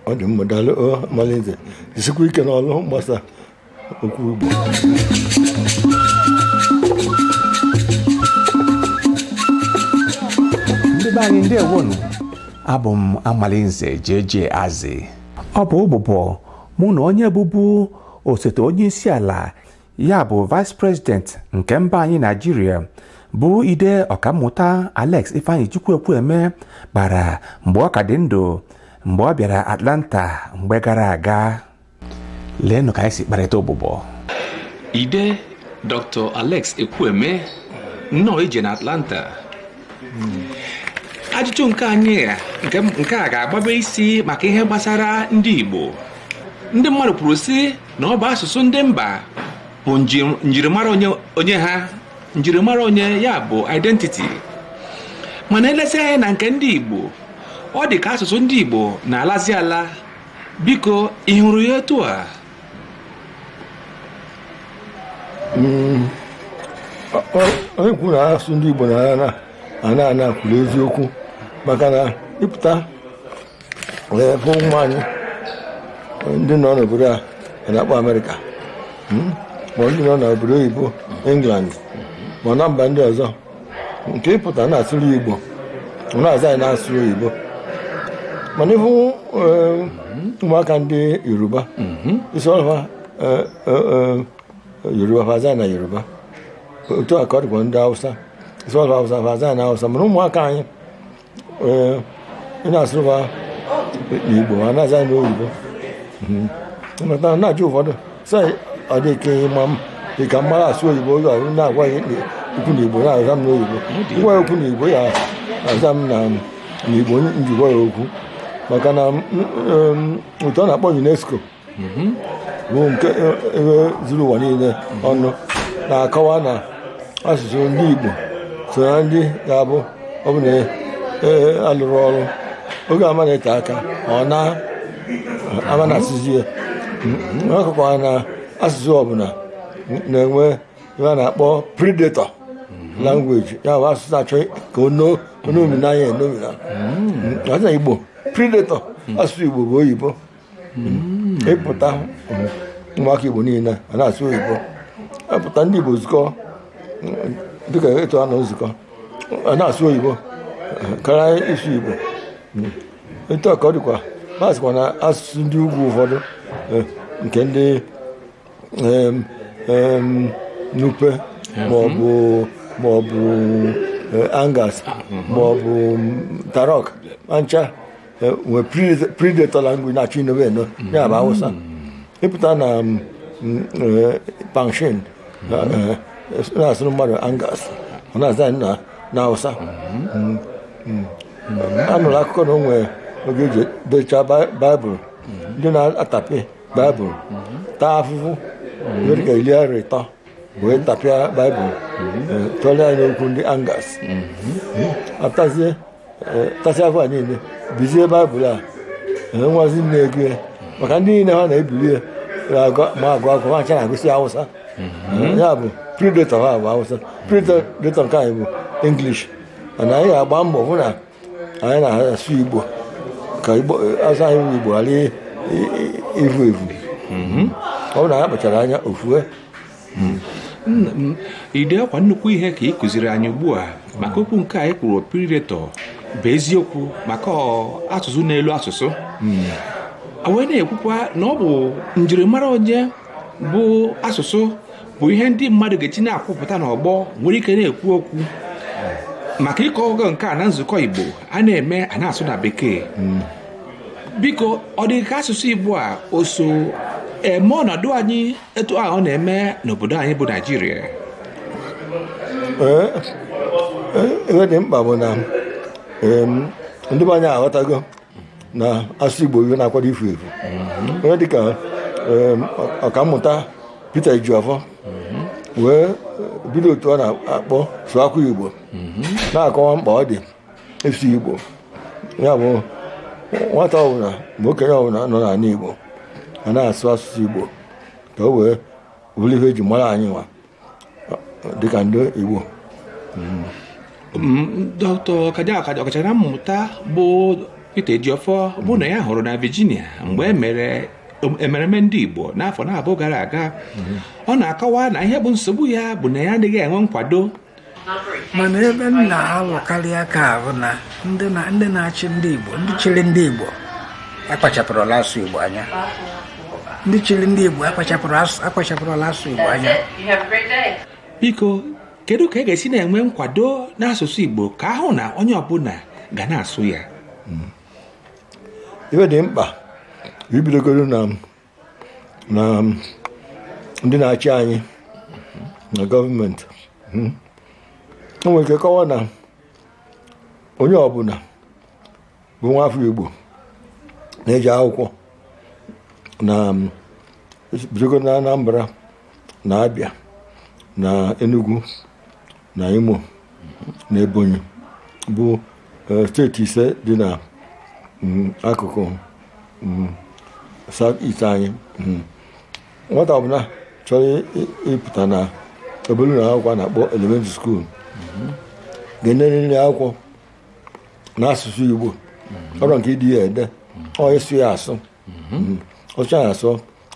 ọ dị mma daalụ ọ, Amalinze jisikwa ike n'ọlụ mgbasa okwu Igbo ndị be anyị ndewonu abụ m amalinze jeje azị ọ bụ ụbụbọ mụ na onye bụbu osote onye isi ala ya bụ vice president nke mba anyị naijiria bụ ide ọkammụta alex ifeanyichukwu ekwueme kpara mgbe ọ ka dị ndụ mgbe ọ bịara atlanta mgbe gara aga leenụ ka anyị si kparịta ụbụbọ ide dr alex ekwueme nnọọ ije na atlanta ajụjụ nke anyị a, nke- nke a ga-agbabe isi maka ihe gbasara ndị igbo ndị mmadụ kwuru sị na ọ bụ asụsụ ndị mba bụ njirimara onye ha njirimara onye ya bụ identity mana e lezie anya na nke ndị Igbo ọ dị ka asụsụ ndị Igbo na-alazi ala biko ị hụrụ ya etu a hmm. onye kwuru na asụsụ ndị Igbo na-ana ana kwuru eziokwu maka na ị pụta ụmụ anyị ndị nọ n'obodo a na-akpọ amerịka hmm? ma ndị nọ n'obodo oyibo england ma na mba ndị ọzọ nke ị pụta na-asụrụ igbo ọ na-aza gị na-asụ oyibo mana ị hụ eh, ụmụaka ndị yoruba hmm. ị sụọlụ fa eh, eh, yoruba fa aza na yoruba otu a ka ọ dịkwa ndị hausa ị sụọlụ fa hausa fa aza na hausa mana ụmụaka anyị Eh, ị na-asụrụ fa n'igbo a na-aza gị n'oyibo nata mhm. na-ajụ ụfọdụ sị ọ dị ka ị ma m ị ka m mara asụ oyibo oge ọrụ na-agwa ya okwu na igbo na-aza m n'oyibo m gwa ya okwu na igbo ya aza m na igbo m ji gwa ya okwu maka na otu a na-akpọ UNESCO mhm. bụ nke e, e, zuru ụwa niile ọnụ na-akọwa na asụsụ ndị Igbo so na ndị ga-abụ ọ bụ na a lụrọ e, ọrụ oge ama na-ete aka ọ na-ama na asụsụ ya mhm. a kọkwara na asụsụ ọbụla na-enwe ihe a na-akpọ predator mhm. language ya bụ asụsụ na-achọ ka o nomina ya enomina ọ dị na igbo predator asụsụ igbo bụ oyibo ị pụta ụmụaka igbo niile a na-asụ oyibo ị pụta ndị igbo zukọ dịka etu a nọ nzukọ a na-asụ oyibo karịa ịsụ igbo etu a ka ọ dịkwa ma sịkwa na asụsụ ndị ugwu ụfọdụ eh, nke ndị em, em, nupe maọbụ maọbụ eh, angas maọbụ mm, tarok ma ncha Eh, nwee predator predator language na-achọ inowe eno ya bụ awụsa ị pụta na mm, mm, eh, pangshin eh, eh, na-asụrụ mmadụ angas ọ na-aza anyị na na awụsa Mm, mm. anụrụ akụkọ na o nwere oge eji dechaa Bi- baịbụl ndị na-atapị baịbụl taa afụfụ nwere ka iri arọ ịtọ wee tapịa baịbụl tụọrọ ya n'okwu ndị angas apụtazie tasị afụfụ a niile bizie baịbụl a nwazi na-ego ya maka ndị niile ha na-ebili ya ma agụ akwụkwọ ha ncha na-agụsị awụsa mhm. ya bụ predator ha bụ awụsa predator nke anyị bụ english mana anyị ga-agba mbọ hụ na anyị na-asụ igbo ka asụsụ anyị bụ igbo ghara ivu evu mhm. ọ bụ na anyị akpachara anya o fue nna m ide ọkwa nnukwu ihe ka ị kụziri anyị ugbu a maka okwu nke i kwuru predator bụ eziokwu maka ọ, asụsụ n'elu asụsụ a wee na-ekwukwa na ọ bụ njirimara onye bụ asụsụ bụ ihe ndị mmadụ ga-eji na-akwụpụta n'ọgbọ nwee ike na-ekwu okwu maka ị kọọgo nke a na nzukọ igbo a na-eme a na-asụ na bekee biko ọ dị ka asụsụ igbo a o so eme ọnọdụ anyị etu a ọ na-eme n'obodo anyị bụ naijiria Ee, ee, ihe dị mkpa bụ na em, ndị be anyị aghọtago na asụsụ igbo ihe na-akwado ifu efu onye dịka em, ọ- ọkammụta Peter Ejiofor wee bido otu ọ na-akpọ Sụwakwa Igbo na-akọwa mkpa ọ dị ịsụ igbo ya bụ nwata ọbụla ma okenye ọbụla nọ n'ala igbo a na-asụ asụsụ igbo ka o wee bụrụ ihe eji mara anyị nwa dịka ndị igbo dọkịta ọkacha ọkachamara mmụta bụ Peter Ejiofor mụ na ya hụrụ na Virginia mgbe e mere mmemme ndị Igbo n'afọ naabọ gara aga ọ na-akọwa na ihe bụ nsogbu ya bụ na ya adịghị enwe nkwado mana ebe m na-alụkarị aka bụ na ndị na-achị ndị Igbo ndị chịrị ndị Igbo akpachapụrụrọ asụsụ Igbo anya ndị chịrị ndị Igbo akpachapụrụrọ asụsụ Igbo anya biko kedu ka a ga-esi na-enwe nkwado n'asụsụ Igbo ka a hụ na onye ọbụla ga na-asụ ya hmm. ife dị mkpa ibidogoro na na um, ndị na-achị anyị na gọọmenti hmm, o nwere ike kọwa na onye ọbụla bụ nwa afọ Igbo na-eje akwụkwọ na um, bidogo na Anambra na Abịa na Enugu na Imo na Ebonyi bụ eh, steeti ise dị na mm, akụkụ mm, south east anyị mm. nwata ọbụla chọrọ ịpụta na obere ụlọ akwụkwọ a na-akpọ elementary school ga-enerịrị akwụkwọ n'asụsụ Igbo ọ bụrọ nke ide ya ede ọ ịsụ ya asụ ọ sụchaa ya asụ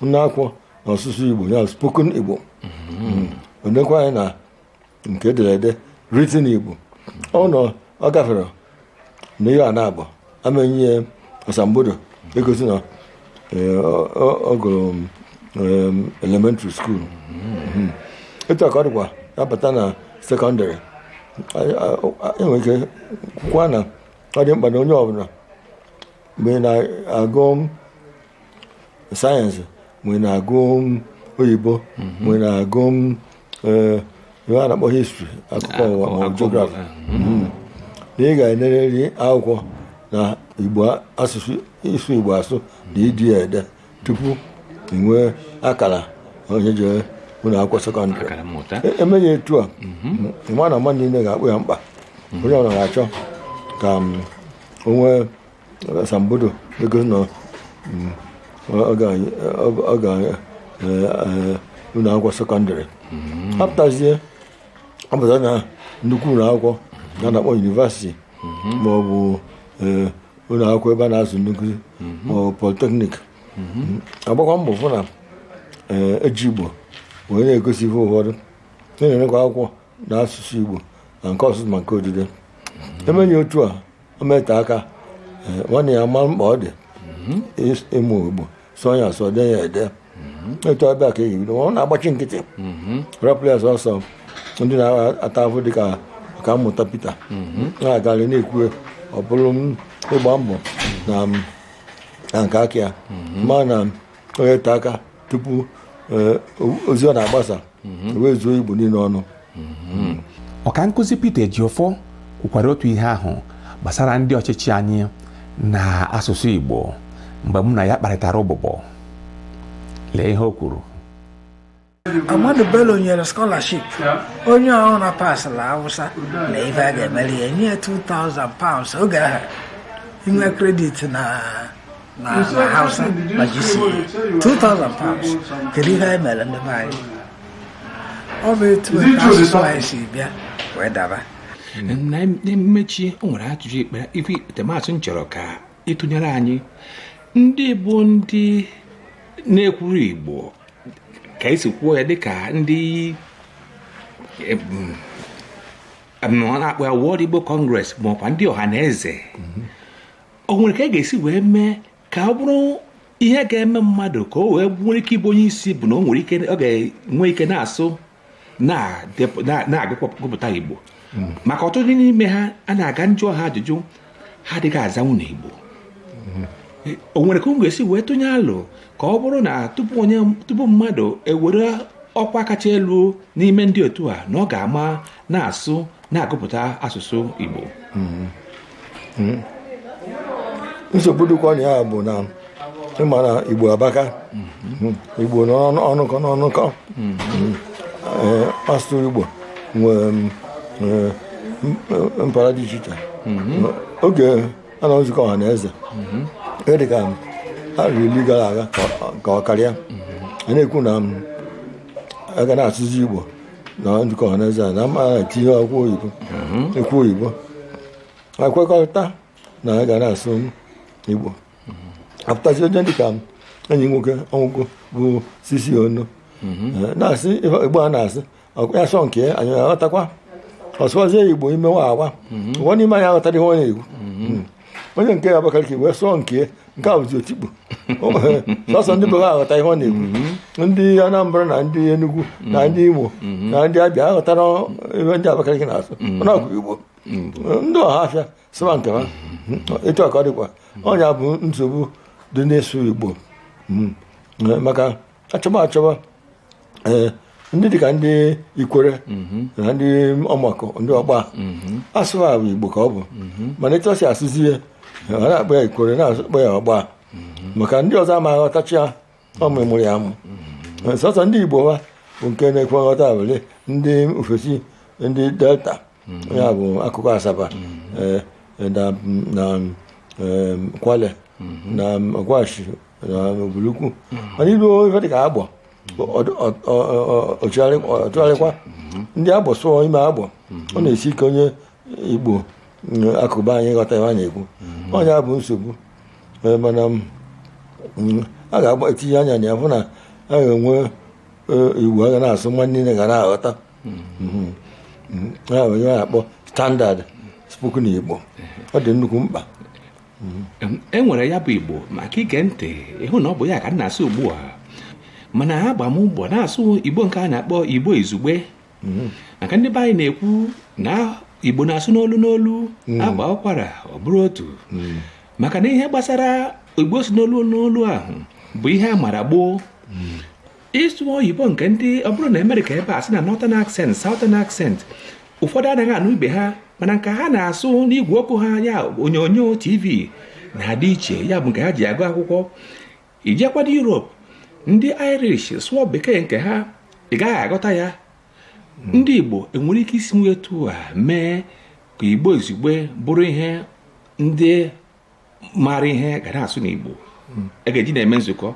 nee akwụkwọ na ọsụsụ Igbo ya spoken Igbo o nekwa anya na nke ederede written Igbo ọ nọ ọ gaferọ na ihe a naabọ a ma-enye ya asambodo egosi na eh, ọ- ọ ọ gụrụ em, elementary school Mhm. etu a ka ọ dịkwa a bata na sekọndịrị Anyị- a- a- e nwere ike kwukwa na ọ dị mkpa na onye ọbụla ma ị na-agụ sayensị ma ị na-agụ oyibo ma ị na-agụ eh, ihe a na-akpọ histri akụkọ ụwa ma ọ bụ geografi na ị ga-enerịrị akwụkwọ na igbo asụsụ ịsụ igbo asụ na ide ya ede tupu ị nwee akara onye jere ụlọ akwụkwọ sekọndịrị akara mmụta E- e mee ya etu a ị ma na mmadụ niile ga-akpọ ya mkpa onye ọbụla ga-achọ ka m, o nwee asambodo egosi na mm, ọ ga- ọ- ọ ga eh, eh, ụlọ akwụkwọ sekọndịrị a pụtazie ọ pụta na nnukwu ụlọ akwụkwọ a na-akpọ yunivasiti ma ọ bụ eh, ụlọ akwụkwọ ebe a na-azụ ndị nkụzi ma ọ bụ politeknik a gbakwaa mbọ fụ na eh, e ji igbo wee na-egosi ihe ụfọdụ na-enekwa akwụkwọ na asụsụ igbo ma nke ọsụsụ ma nke odide e mee ya otu a ọ ma-ete aka eh, wa niine amara mkpa ọ dị mhm. ịmụ igbo sụọ ya asụ dee ya ede mhm. etu abịa ka eyi bido ọ na-agbachi nkịtị mhm. rapụ ya sọsọ ndị na-ata afụ dịka ọkammụta Peter na-agarị na-ekwu ọ bụrụ ịgba mbọ na nke aka ya mana ọ ya-ete aka tupu eh, ozi ọ na-agbasa mhm. wee zuo Igbo niile ọnụ mhm. ọka nkụzi Peter Ejiofor kwukwara otu ihe ahụ gbasara ndị ọchịchị anyị na asụsụ Igbo mgbe mụ na ya kparịtara ụbụbọ lee ihe o kwuru Ahmadu Bello nyere scholarship onye ọbụna pasịla Hausa na ife a ga-emeli ya nye 2000 pounds oge ahụ i nwee kredit na na na hausa na gc 2000 pounds kedu ihe anyị mere ndị be anyị ọ bụ etu otu asụsụ anyị si bịa wee daba na mmechi o nwere ajụjụ ikpetemazụ m chọrọ ka ị tụnyere anyị ndị bụ ndị na-ekwuru igbo ka e si kwuo ya dịka ndị em, em, ọ na-akpọ ya World Igbo Congress makwa ndị Ọhanaeze o nwere ka a ga-esi wee mee ka ọ bụrụ ihe ga-eme mmadụ ka o wee nwere ike ịbụ onye isi bụ na o nwere ike ọ ga-enwe ike na-asụ na-agụpụta igbo hmm. maka ọtụtụ n'ime ha a na-aga njụọ ha ajụjụ ha adịghị azanwu n'igbo hmm. o nwere ka a ga-esi wee tụnye alo ka ọ bụrụ na tupu mmadụ ewere ọkwa kacha elu n'ime ndị otu a na ọ ga-ama na-asụ na-agụpụta asụsụ Igbo hmm. nsogbu dịkwa na ya bụ na ị ma na igbo abaka hmm. igbo n'ọnụkọ n'ọnụkọ hmm. eh, asụsụ igbo nwere eh, mpara dị iche iche oge a na nzukọ Ọhanaeze e dịka arọ iri gara aga ka ọ karịa a na-ekwu na a ga na-asụzi igbo na nzukọ ọhaneze a na ama etinyekwa oyibo ekwu oyibo e kwekọrịta na a ga na-asụ igbo apụtazi onye dịka enyi m nwoke ọ nwụgo bụ C.C. Onoh Eh, na-asụ igbo a na-asị ya sụọ nke ya, anyị aghọtakwa ọ sụwazie igbo ime waawa ụfọdụ n'ime anyị aghọtarọ ihe ọ na-ekwu onye nke ya Abakaliki wee sụọ nke nke a bụzi otikpo sọsọ ndị be ha aghọta ihe ọ na-ekwu mm-hmm. ndị Anambra na ndị Enugu mm-hmm. na ndị Imo mm-hmm. na ndị Abịa aghọtarọ ihe ndị Abakaliki na-asụ mana ọ bụ Igbo ndị Ọhafịa sụba nke ha etu a ka ọ dịkwa ọ nya bụ nsogbu dị n'ịsụ Igbo maka achọba achọba ee ndị dịka ndị ikwere na ndị ọmọkụ ndị ọgba asụba igbo ka ọ bụ mana etu ọ si asụzi ya ha na-akpọ ya ikwere na-akpọ ya ọgba maka ndị ọzọ ama aghọtacha ya ọ mụmụrụ ya amụ sọsọ ndị igbo ha bụ nke na-ekwe nghọta abụlụ ndị ofesi ndị delta ya bụ akụkụ asaba eh, eh, na na eh, kwale na ọgwashi na ubulu ukwu mana i luo ife dịka agbọ ọ chigharịkwa ndị agbọ sụọ ime agbọ ọ na-esi ike onye igbo mm, akụkụ be anyị ịghọta ihe a na-ekwu ọ nya bụ nsogbu Eh, mana mm, a ga-agba etinye anya na ya hụ na a ga-enwe eh, igbo a ga na-asụ mmadụ niile ga na-aghọta mm-hmm. mm-hmm. ah, onye a na-akpọ standard spoken Igbo ọ dị nnukwu mkpa mm-hmm. e nwere ya bụ Igbo maka i gee ntị ị hụ na ọ bụ ya ka m na-asụ ugbu a mana agba m mbọ na-asụ Igbo nke a na-akpọ Igbo izugbe maka ndị be anyị na-ekwu na Igbo na-asụ n'olu n'olu a gbaa ụkwara ọ bụrụ otu maka na ihe gbasara Igbo si n'olu n'olu ahụ bụ ihe a mara gboo ịsụ oyibo nke ndị ọ bụrụ na Amerịka ebe a sị na Northern accent Southern accent ụfọdụ anaghị anụ ibe ha mana nke ha na-asụ n'igwe okwu ha ya onyonyo tv na-adị iche ya bụ nke ha ji agụ akwụkwọ i jekwadụ Europe ndị Irish sụọ bekee nke ha ị gaghị aghọta ya ndị Igbo e nwere ike isi etu a mee ka Igbo izugbe bụrụ ihe ndị mara ihe ga na-asụ na Igbo a ga-eji na-eme nzukọ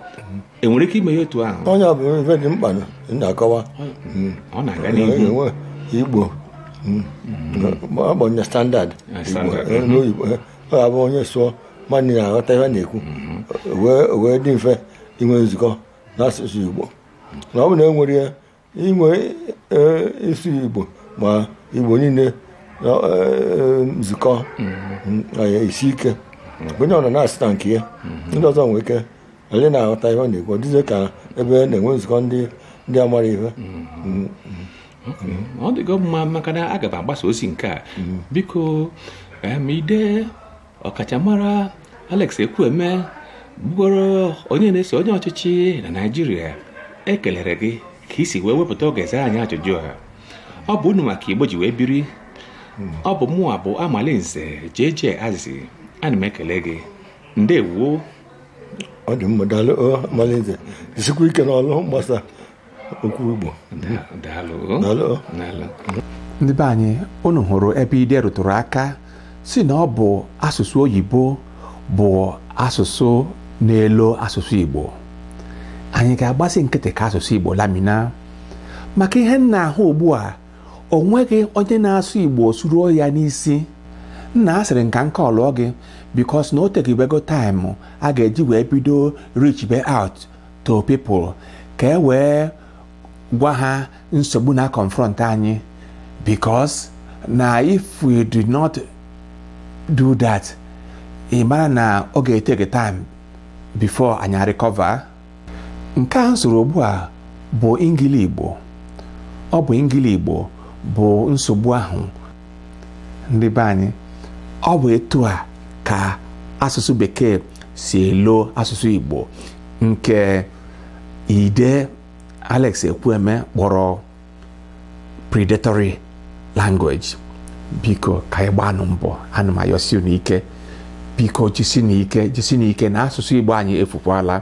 e nwere ike ime ya otu ahụ ọ ya bụ ife dị mkpa na-akọwa na a ga-enwe Igbo a kpọ ya standard ọ ga-abụ onye sụọ mmadụ niine aghọta ihe ọ na-ekwu wee dị mfe inwe nzukọ n'asụsụ Igbo na ọ bụ na e nwere ya inwe e, ịsụ Igbo ma Igbo niile e, nzukọ mm-hmm. isi ike mm-hmm. onye ọna na-asụ na nke ya mm-hmm. ndị ọzọ nwee ike anyị na-aghọta ihe ọ na-ekwu dịzie ka ebe na-enwe nzukọ ndị ndị amara ihe ọ dịgo mma maka na aga m agbasa ozi nke a biko Ide ọkachamara Alex Ekwueme bụgoro onye na-eso onye ọchịchị na Naịjirịa ekelere gị ka i si wee wepụta oge zaa anyị ajụjụ a ọ bụ unu ma ka Igbo ji wee biri ọ bụ mụnwa bụ Amalinze JJ Azizi ana m ekele gị ndewo ọ dị mma daalụ Amalinze jisikwa ike n'ọlụ mgbasa okwu Igbo ndị be anyị unu hụrụ ebe ide rụtụrụ aka sị na ọ bụ asụsụ oyibo bụ asụsụ na-elo asụsụ Igbo anyị ga-agbazi nkịtị ka asụsụ Igbo lamina maka ihe m na-ahụ ugbu a o nweghị onye na-asụ Igbo suruo ya n'isi nna asịrị m ka m kọlụọ gị because na o tegibego time a ga-eji wee bido reachibe out to people ka e wee gwa ha nsogbu na-aconfront anyị because na if we do not do that ị mara na ọ ga-eteke time before anyị arecover nke a m sụrụ ugbu a bụ Engili Igbo ọ bụ Engili Igbo bụ nsogbu ahụ ndị be anyị ọ bụ etu a ka asụsụ bekee si elo asụsụ igbo nke ide alex ekwueme kpọrọ predatory language biko ka anyị gbanụ mbọ ana m ayọsi unu ike biko jisinụ ike jisinụ ike na asụsụ igbo anyị efukwala